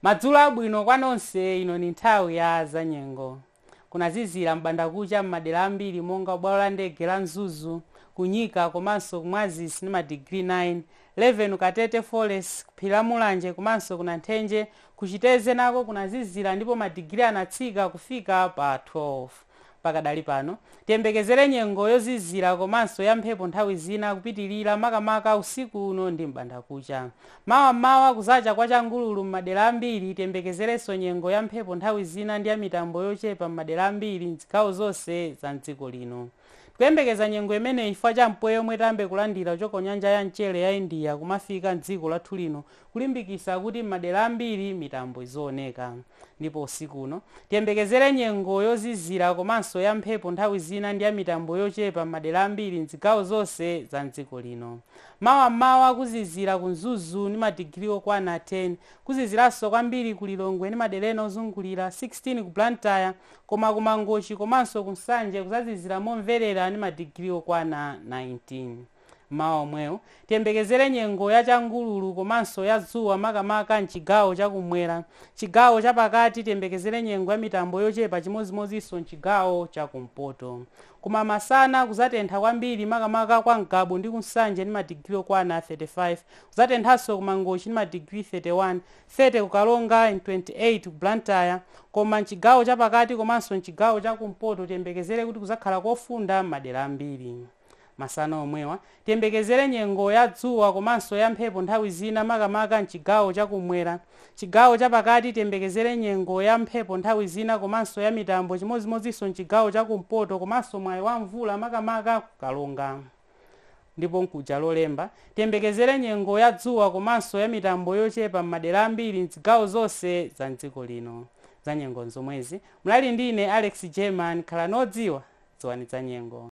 madzulo abwino kwa nonse ino ni nthawi ya zanyengo kunazizira m'bandakucha m'madera ambiri monga bwalo la ndege la mzuzu kunyika komanso kumwazisi ni madigiri 9 11 katete forest kuphiri la mulanje komanso ku nathenje kuchiteze nako kunazizira ndipo madigiri anatsika kufika pa 12 Pakadali pano, tiyembekezere nyengo yozizira komanso ya mphepo nthawi zina kupitilira makamaka usiku uno ndi m'bandakucha. Mawa m'mawa kuzacha kwa changululu m'madera ambiri, tiyembekezerenso nyengo ya mphepo nthawi zina ndi ya mitambo yochepa m'madera ambiri m'zigawo zonse za m'dziko lino. Kuyembekeza nyengo imeneyi chifukwa cha mpweya omwe tayambe kulandira kuchoka kunyanja ya mchere ya India kumafika m'dziko lathu lino kulimbikisa kuti m'madera ambiri mitambo izioneka. Ndipo usiku uno, tiyembekezere nyengo yozizira komanso ya mphepo nthawi zina ndi ya mitambo yochepa m'madera ambiri m'zigawo zonse za m'dziko lino. Mawa m'mawa kuzizira ku Mzuzu ndi madigiri okwana 10, kuziziranso kwambiri ku Lilongwe ndi madera ena ozungulira, 16 ku Blantyre, koma ku Mangochi komanso ku Nsanje kuzazizira momverera ndi madigiri okwana 19. M'mawa omwewu, tiyembekezere nyengo ya changululu komanso ya dzuwa makamaka m'chigawo cha kum'mwera. Chigawo cha pakati tiyembekezere nyengo ya mitambo yochepa chimodzimodzinso m'chigawo cha kumpoto. Koma masana kuzatentha kwambiri makamaka kwa Ngabu ndi ku Nsanje ndi madigiri okwana 35. Kuzatenthanso ku Mangochi ndi madigiri 31, 30 ku Karonga, 28 ku Blantyre. Koma m'chigawo cha pakati komanso m'chigawo cha kumpoto tiyembekezere kuti kuzakhala kofunda m'madera ambiri. Masana omwewa, tiyembekezere nyengo ya dzuwa komanso ya mphepo nthawi zina makamaka m'chigawo cha kum'mwera. Chigawo cha pakati tiyembekezere nyengo ya mphepo nthawi zina komanso ya mitambo chimodzimodzinso m'chigawo cha kumpoto komanso mwayi wa mvula makamaka ku Karonga. Ndipo mkuja Lolemba, tiyembekezere nyengo ya dzuwa komanso ya mitambo yochepa m'madera ambiri m'zigawo zonse za m'dziko lino. Zanyengo n'zomwezi. Munali ndi ine Alex German. Khalani odziwa. Dziwani zanyengo.